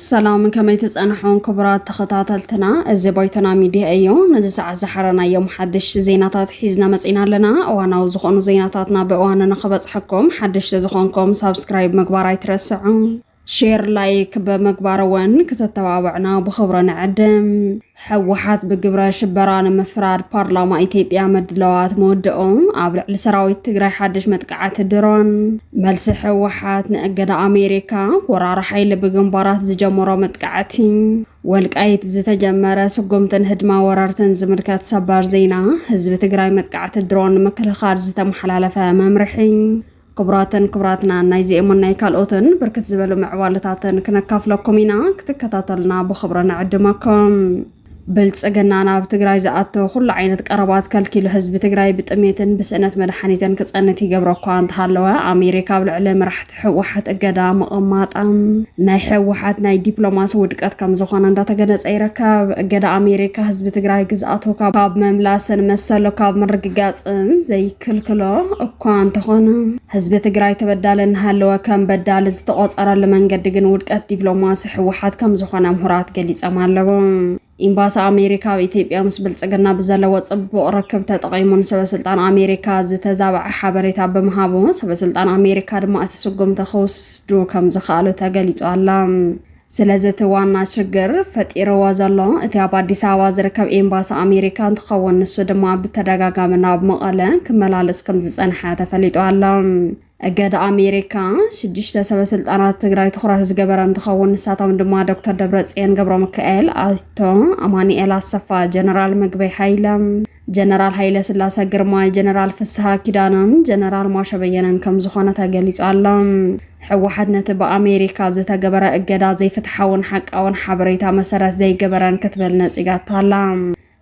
ሰላም ከመይ ትፀንሖን ክቡራት ተኸታተልትና፣ እዚ ባይቶና ሚድያ እዩ። ነዚ ሰዓት ዝሓረናዮም ሓደሽቲ ዜናታት ሒዝና መፂና ኣለና። እዋናዊ ዝኾኑ ዜናታትና ብእዋኑ ንኽበፅሐኩም ሓደሽቲ ዝኾንኩም ሳብስክራይብ ምግባር ኣይትረስዑ። ሼር ላይክ ብምግባር እውን ክተተባብዕና ብኽብሪ ንዕድም። ሕወሓት ብግብረ ሽበራ ንምፍራድ ፓርላማ ኢትዮጵያ ምድላዋት መወድኦ፣ ኣብ ልዕሊ ሰራዊት ትግራይ ሓድሽ መጥቃዕቲ ድሮን፣ መልሲ ሕወሓት ንእገዳ ኣሜሪካ፣ ወራሪ ሓይሊ ብግንባራት ዝጀመሮ መጥቃዕቲ፣ ወልቃይት ዝተጀመረ ስጉምትን ህድማ ወረርትን ዝምልከት ሰበር ዜና፣ ህዝቢ ትግራይ መጥቃዕቲ ድሮን ንምክልኻል ዝተመሓላለፈ መምርሒ፣ ክቡራትን ክቡራትናን ናይዚኤሙን ናይ ካልኦትን ብርክት ዝበሉ ምዕባለታትን ክነካፍለኩም ኢና ክትከታተሉና ብኽብሪ ንዕድመኩም ብልፅግና ናብ ትግራይ ዝኣቶ ኩሉ ዓይነት ቀረባት ከልኪሉ ህዝቢ ትግራይ ብጥሜትን ብስእነት መድሓኒትን ክፀንት ይገብሮ እኳ እንተሃለወ ኣሜሪካ ኣብ ልዕሊ መራሕቲ ህወሓት እገዳ ምቕማጣ ናይ ህወሓት ናይ ዲፕሎማሲ ውድቀት ከም ዝኾነ እንዳተገለፀ ይርከብ። እገዳ ኣሜሪካ ህዝቢ ትግራይ ግዝኣቱ ካብ ምምላስን መሰሉ ካብ ምርግጋፅን ዘይክልክሎ እኳ እንተኾነ ህዝቢ ትግራይ ተበዳለ እናሃለወ ከም በዳሊ ዝተቖፀረሉ መንገዲ ግን ውድቀት ዲፕሎማሲ ህወሓት ከም ዝኾነ ምሁራት ገሊፆም ኣለዉ። ኤምባሲ ኣሜሪካ ኣብ ኢትዮጵያ ምስ ብልፅግና ብዘለዎ ፅቡቕ ርክብ ተጠቒሙ ንሰበስልጣን ኣሜሪካ ዝተዛበዐ ሓበሬታ ብምሃቡ ሰበስልጣን ኣሜሪካ ድማ እቲ ስጉምቲ ክውስዱ ከም ዝኸኣሉ ተገሊፁ ኣሎ። ስለዚ እቲ ዋና ችግር ፈጢርዎ ዘሎ እቲ ኣብ ኣዲስ ኣበባ ዝርከብ ኤምባሲ ኣሜሪካ እንትኸውን ንሱ ድማ ብተደጋጋሚ ናብ መቐለ ክመላለስ ከምዝፀንሐ ተፈሊጡ ኣሎ። እገዳ ኣሜሪካ ሽዱሽተ ሰበስልጣናት ትግራይ ትኹረት ዝገበረ እንትኸውን ንሳቶም ድማ ዶክተር ደብረፅዮን ገብረሚካኤል፣ ኣይቶ ኣማኒኤል ኣሰፋ፣ ጀነራል ምግበይ ሃይለ፣ ጀነራል ሃይለ ስላሰ ግርማይ፣ ጀነራል ፍስሃ ኪዳነን ጀነራል ማሾ በየነን ከም ዝኾነ ተገሊጹ ኣሎ። ህወሓት ነቲ ብኣሜሪካ ዝተገበረ እገዳ ዘይፍትሓውን ሓቃውን ሓበሬታ መሰረት ዘይገበረን ክትብል ነጺጋቶ ኣላ።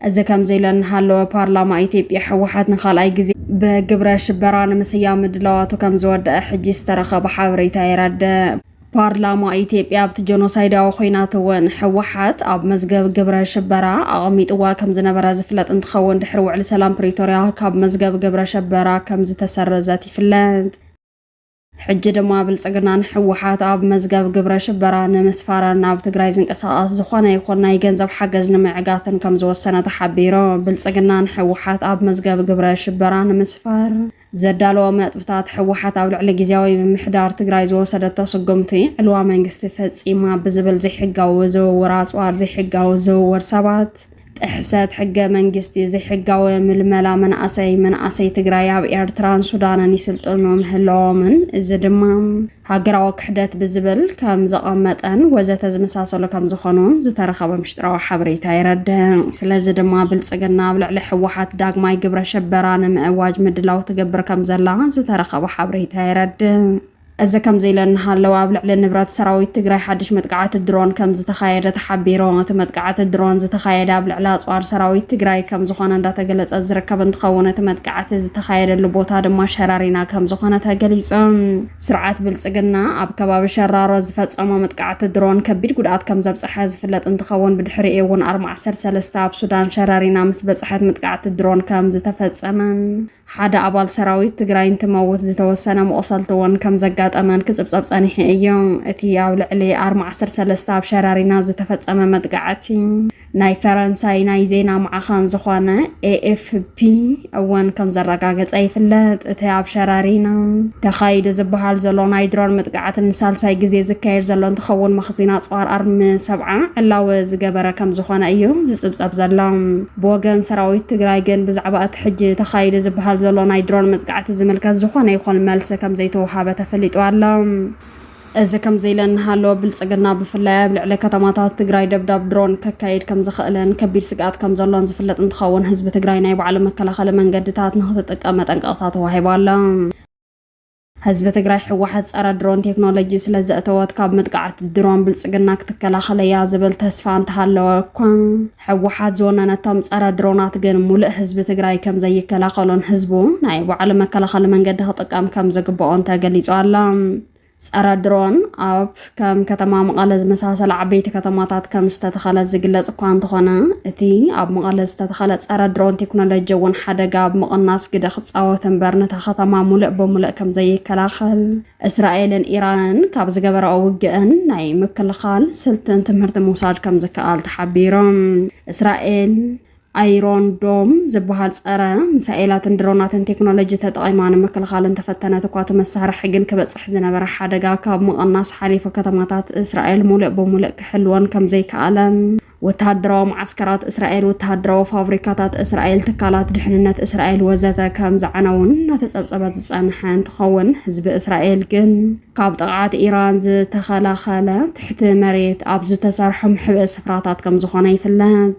እዚ ከምዚ ኢሉ እናሃለወ ፓርላማ ኢትዮጵያ ህወሓት ንኻልኣይ ግዜ ብግብረ ሽበራ ንምስያም ምድላዋቱ ከም ዝወደኣ ሕጂ ዝተረኸበ ሓበሬታ የረድእ። ፓርላማ ኢትዮጵያ ኣብቲ ጀኖሳይዳዊ ኹናት እውን ህወሓት ኣብ መዝገብ ግብረ ሽበራ ኣቐሚጥዋ ከምዝነበረ ዝፍለጥ እንትኸውን ድሕሪ ውዕሊ ሰላም ፕሪቶርያ ካብ መዝገብ ግብረ ሸበራ ከምዝተሰረዘት ይፍለጥ። ሕጂ ድማ ብልጽግና ንሕወሓት ኣብ መዝገብ ግብረ ሽበራ ንምስፋረን ናብ ትግራይ ዝንቀሳቐስ ዝኾነ ይኹን ናይ ገንዘብ ሓገዝ ንምዕጋትን ከም ዝወሰነ ተሓቢሩ። ብልጽግና ንሕወሓት ኣብ መዝገብ ግብረ ሽበራ ንምስፋር ዘዳለዎም ነጥብታት፣ ህወሓት ኣብ ልዕሊ ጊዜያዊ ምምሕዳር ትግራይ ዝወሰደቶ ስጉምቲ ዕልዋ መንግስቲ ፈፂማ ብዝብል ዘይሕጋዊ ዝውውር ኣፅዋር፣ ዘይሕጋዊ ዝውውር ሰባት፣ ጥሕሰት ሕገ መንግስቲ፣ ዘይሕጋዊ ምልመላ መናእሰይ፣ መናእሰይ ትግራይ ኣብ ኤርትራን ሱዳንን ይስልጥኑ ምህላዎምን እዚ ድማ ሃገራዊ ክሕደት ብዝብል ከም ዘቐመጠን ወዘተ ዝመሳሰሉ ከም ዝኾኑን ዝተረኸበ ምሽጥራዊ ሓበሬታ የረድእ። ስለዚ ድማ ብልጽግና ኣብ ልዕሊ ህወሓት ዳግማይ ግብረ ሽበራ ንምእዋጅ ምድላው ትገብር ከም ዘላ ዝተረኸበ ሓበሬታ የረድእ። እዚ ከምዚ ኢለ እናሃለወ ኣብ ልዕሊ ንብረት ሰራዊት ትግራይ ሓድሽ መጥቃዕቲ ድሮን ከም ዝተኻየደ ተሓቢሩ። እቲ መጥቃዕቲ ድሮን ዝተኻየደ ኣብ ልዕሊ ኣጽዋር ሰራዊት ትግራይ ከም ዝኾነ እንዳተገለጸ ዝርከብ እንትኸውን እቲ መጥቃዕቲ ዝተኻየደሉ ቦታ ድማ ሸረሪና ከም ዝኾነ ተገሊጹ። ስርዓት ብልፅግና ኣብ ከባቢ ሸራሮ ዝፈፀሞ መጥቃዕቲ ድሮን ከቢድ ጉድኣት ከምዘብፀሐ ዝፍለጥ እንትኸውን ብድሕሪኡ እውን ኣርማ ዓሰርተ ሰለስተ ኣብ ሱዳን ሸረሪና ምስ በፅሐት መጥቃዕቲ ድሮን ከምዝተፈፀመን ሓደ ኣባል ሰራዊት ትግራይ እንትመውት ዝተወሰነ መቑሰልቲ እውን ከምዘጋጠመን ክፅብፀብ ፀኒሑ እዩ። እቲ ኣብ ልዕሊ ኣርማ ዓሰርተ ሰለስተ ኣብ ሸረሪና ዝተፈፀመ መጥቃዕቲ ናይ ፈረንሳይ ናይ ዜና ማዕኸን ዝኾነ ኤኤፍፒ እውን ከም ዘረጋገጸ ይፍለጥ። እቲ ኣብ ሸረሪና ተኻይዱ ዝበሃል ዘሎ ናይ ድሮን መጥቃዕቲ ንሳልሳይ ግዜ ዝካየድ ዘሎ እንትኸውን መኽዚን ኣጽዋር ኣርሚ ሰብዓ ዕላወ ዝገበረ ከም ዝኾነ እዩ ዝጽብጸብ ዘሎ። ብወገን ሰራዊት ትግራይ ግን ብዛዕባ እቲ ሕጂ ተኻይደ ዝበሃል ዘሎ ናይ ድሮን መጥቃዕቲ ዝምልከት ዝኾነ ይኹን መልሲ ከም ዘይተውሃበ ተፈሊጡ ኣሎ። እዚ ከምዚ ኢለን እናሃለወ ብልፅግና ብፍላይ ኣብ ልዕሊ ከተማታት ትግራይ ደብዳብ ድሮን ከካይድ ከምዝኽእልን ከቢድ ስግኣት ከምዘሎን ዝፍለጥ እንትኸውን ህዝቢ ትግራይ ናይ ባዕሉ መከላኸሊ መንገድታት ንክትጥቀም መጠንቀቕታ ተዋሂቡ ኣሎ። ህዝቢ ትግራይ ህወሓት ፀረ ድሮን ቴክኖሎጂ ስለዘእተወት ካብ መጥቃዕቲ ድሮን ብልፅግና ክትከላኸለያ ዝብል ተስፋ እንተሃለወ እኳ ህወሓት ዝወነነቶም ፀረ ድሮናት ግን ሙሉእ ህዝቢ ትግራይ ከምዘይከላኸሎን ህዝቡ ናይ ባዕሉ መከላኸሊ መንገዲ ክጥቀም ከምዝግበኦን ተገሊፁ ኣሎ። ፀረ ድሮን ኣብ ከም ከተማ መቐለ ዝመሳሰለ ዓበይቲ ከተማታት ከም ዝተተኸለ ዝግለፅ እኳ እንተኾነ እቲ ኣብ መቐለ ዝተተኸለ ፀረ ድሮን ቴክኖሎጂ እውን ሓደጋ ኣብ ምቕናስ ግደ ክፃወት እምበር ነታ ከተማ ሙሉእ ብሙሉእ ከምዘይከላኸል እስራኤልን ኢራንን ካብ ዝገበራኦ ውግእን ናይ ምክልኻል ስልትን ትምህርቲ ምውሳድ ከም ዝከኣል ተሓቢሮም እስራኤል ኣይሮን ዶም ዝበሃል ጸረ ሚሳኤላትን ድሮናትን ቴክኖሎጂ ተጠቒማ ንምክልኻል እንተፈተነት እኳ እቲ መሳርሒ ግን ክበጽሕ ዝነበረ ሓደጋ ካብ ምቕናስ ሓሊፉ ከተማታት እስራኤል ሙሉእ ብሙሉእ ክሕልወን ከም ዘይከኣለን ወተሃደራዊ መዓስከራት እስራኤል፣ ወተሃደራዊ ፋብሪካታት እስራኤል፣ ትካላት ድሕንነት እስራኤል ወዘተ ከም ዝዓነዉን እናተጸብጸበ ዝጸንሐ እንትኸውን፣ ህዝቢ እስራኤል ግን ካብ ጥቕዓት ኢራን ዝተኸላኸለ ትሕቲ መሬት ኣብ ዝተሰርሑ መሕብኢ ስፍራታት ከም ዝኾነ ይፍለጥ።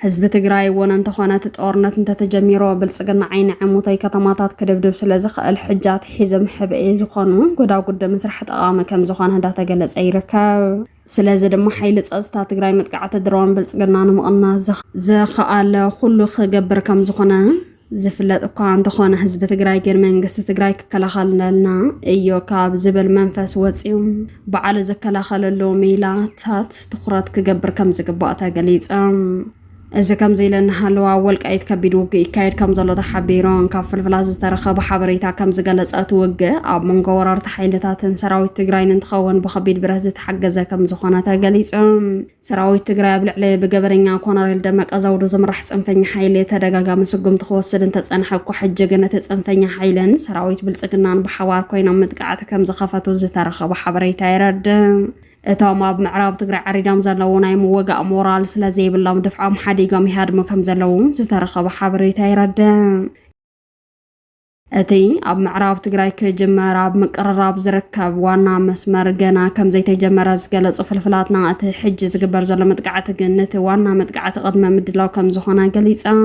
ህዝቢ ትግራይ እውን እንተኾነ እቲ ጦርነት እንተተጀሚሩ ብልጽግና ዓይኒ ዕሙተይ ከተማታት ክድብድብ ስለ ዝኽእል ሕጂ ኣትሒዞም ሕብኢ ዝኾኑ ጎዳጉዲ ምስራሕ ጠቓሚ ከም ዝኾነ እንዳተገለጸ ይርከብ። ስለዚ ድማ ሓይሊ ፀፅታ ትግራይ መጥቃዕቲ ድሮን ብልፅግና ንምቕናስ ዝኸኣለ ኩሉ ክገብር ከምዝኾነ ዝፍለጥ እኳ እንተኾነ ህዝቢ ትግራይ ግን መንግስቲ ትግራይ ክከላኸለልና እዮ ካብ ዝብል መንፈስ ወፂኡ ባዕሉ ዝከላኸለሉ ሜላታት ትኹረት ክገብር ከምዝግባእ ተገሊፀ። እዚ ከምዚ ኢለ እናሃለወ ኣብ ወልቃይት ከቢድ ውግእ ይካየድ ከም ዘሎ ተሓቢሩ። ካብ ፍልፍላት ዝተረኸበ ሓበሬታ ከም ዝገለጸ እቲ ውግእ ኣብ መንጎ ወረርቲ ሓይልታትን ሰራዊት ትግራይን እንትኸውን ብከቢድ ብረት ዝተሓገዘ ከም ዝኾነ ተገሊጹ። ሰራዊት ትግራይ ኣብ ልዕሊ ብገበነኛ ኮነሬል ደመቀ ዘውዱ ዝምራሕ ጽንፈኛ ሓይሊ ተደጋጋሚ ስጉምቲ ክወስድ እንተጸንሐ እኳ ሕጂ ግን እቲ ጽንፈኛ ሓይልን ሰራዊት ብልጽግናን ብሓባር ኮይኖም ምጥቃዕቲ ከም ዝኸፈቱ ዝተረኸበ ሓበሬታ የረድእ። እቶም ኣብ ምዕራብ ትግራይ ዓሪዶም ዘለዉ ናይ ምወጋእ ሞራል ስለ ዘይብሎም ድፍዖም ሓዲጎም ይሃድሙ ከም ዘለዉ ዝተረኸበ ሓበሬታ ይረድእ። እቲ ኣብ ምዕራብ ትግራይ ክጅመር ኣብ ምቅርራብ ዝርከብ ዋና መስመር ገና ከም ዘይተጀመረ ዝገለጹ ፍልፍላትና እቲ ሕጂ ዝግበር ዘሎ መጥቃዕቲ ግን ነቲ ዋና መጥቃዕቲ ቅድመ ምድላው ከም ዝኾነ ገሊጾም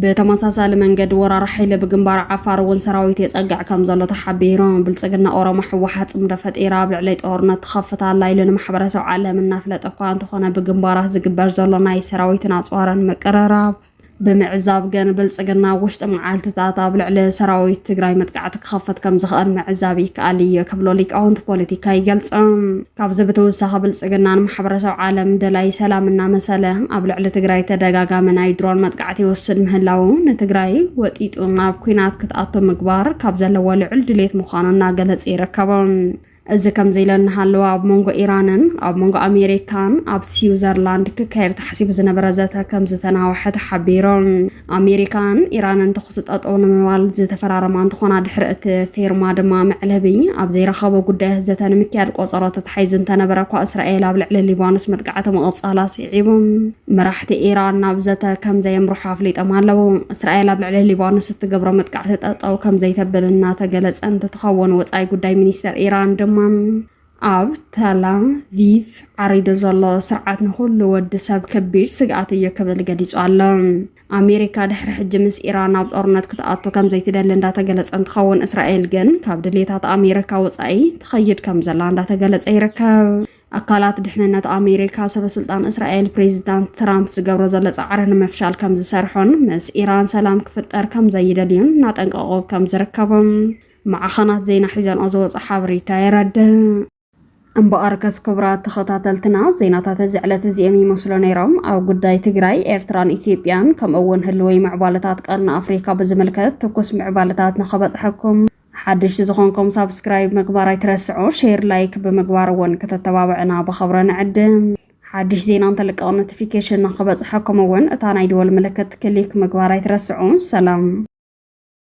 ብተመሳሳሊ መንገዲ ወራሪ ሓይሊ ብግንባር ዓፋር እውን ሰራዊት የፀግዕ ከም ዘሎ ተሓቢሩ። ብልፅግና ኦሮሞ ህወሓት ፅምዶ ፈጢራ ኣብ ልዕለይ ጦርነት ትኸፍት ኣላ ኢሉ ንማሕበረሰብ ዓለም እናፍለጠ እኳ እንተኾነ ብግንባራት ዝግበር ዘሎ ናይ ሰራዊትን ኣፅዋርን ምቅርራብ ብምዕዛብ ግን ብልፅግና ኣብ ውሽጢ መዓልትታት ኣብ ልዕሊ ሰራዊት ትግራይ መጥቃዕቲ ክኸፍት ከም ዝኽእል ምዕዛብ ይከኣል እዩ ክብሎ ሊቃውንቲ ፖለቲካ ይገልፆም። ካብዚ ብተወሳኺ ብልፅግና ንማሕበረሰብ ዓለም ደላዪ ሰላም እናመሰለ ኣብ ልዕሊ ትግራይ ተደጋጋሚ ናይ ድሮን መጥቃዕቲ ይወስድ ምህላዉ ንትግራይ ወጢጡ ናብ ኲናት ክትኣቶ ምግባር ካብ ዘለዎ ልዑል ድሌት ምዃኑ እናገለፀ ይርከቦ። እዚ ከምዚ ኢለ እናሃለወ ኣብ መንጎ ኢራንን ኣብ መንጎ ኣሜሪካን ኣብ ስዊዘርላንድ ክካየድ ተሓሲቡ ዝነበረ ዘተ ከምዝተናወሐ ተሓቢሩ። ኣሜሪካን ኢራንን ተኹሲ ጠጠው ንምባል ዝተፈራረማ እንትኾና ድሕሪ እቲ ፌርማ ድማ መዕለቢ ኣብ ዘይረኸቦ ጉዳያት ዘተ ንምክያድ ቆፀሮ ተታሒዙ እንተነበረ እኳ እስራኤል ኣብ ልዕሊ ሊባኖስ መጥቃዕቲ ምቕፃላ ስዒቡ መራሕቲ ኢራን ናብ ዘተ ከም ዘየምርሑ ኣፍሊጦም ኣለዉ። እስራኤል ኣብ ልዕሊ ሊባኖስ እትገብሮ መጥቃዕቲ ጠጠው ከም ዘይተብል እናተገለፀ እንትትኸውን ወፃኢ ጉዳይ ሚኒስተር ኢራን ድማ ኣብ ተላም ቪቭ ዓሪዱ ዘሎ ስርዓት ንኹሉ ወዲ ሰብ ከቢድ ስግኣት እዩ ክብል ገሊጹ ኣሎ። ኣሜሪካ ድሕሪ ሕጂ ምስ ኢራን ኣብ ጦርነት ክትኣቱ ከም ዘይትደሊ እንዳተገለጸ እንትኸውን እስራኤል ግን ካብ ድሌታት ኣሜሪካ ወጻኢ ትኸይድ ከም ዘላ እንዳተገለጸ ይርከብ። ኣካላት ድሕንነት ኣሜሪካ ሰበስልጣን እስራኤል ፕሬዚዳንት ትራምፕ ዝገብሮ ዘሎ ጻዕሪ ንምፍሻል ከም ዝሰርሑን ምስ ኢራን ሰላም ክፍጠር ከም ዘይደልዩን እናጠንቀቑ ከም ዝርከቡን ማዕኸናት ዜና ሒዘንኦ ዝወፀ ሓበሬታ የረድእ። እምበኣር ከስ ክቡራት ተኸታተልትና ዜናታት እዚ ዕለት እዚኦም ይመስሉ ነይሮም። ኣብ ጉዳይ ትግራይ፣ ኤርትራን ኢትዮጵያን ከምኡ እውን ህልወይ ምዕባለታት ቀርኒ ኣፍሪካ ብዝምልከት ትኩስ ምዕባለታት ንኸበፅሐኩም ሓድሽቲ ዝኾንኩም ሳብስክራይብ ምግባር ኣይትረስዑ፣ ሼር ላይክ ብምግባር እውን ከተተባብዕና ብኸብረ ንዕድም። ሓድሽ ዜና እንተልቀቕ ኖቲፊኬሽን ንኽበፅሐኩም እውን እታ ናይ ደወል ምልክት ክሊክ ምግባር ኣይትረስዑ። ሰላም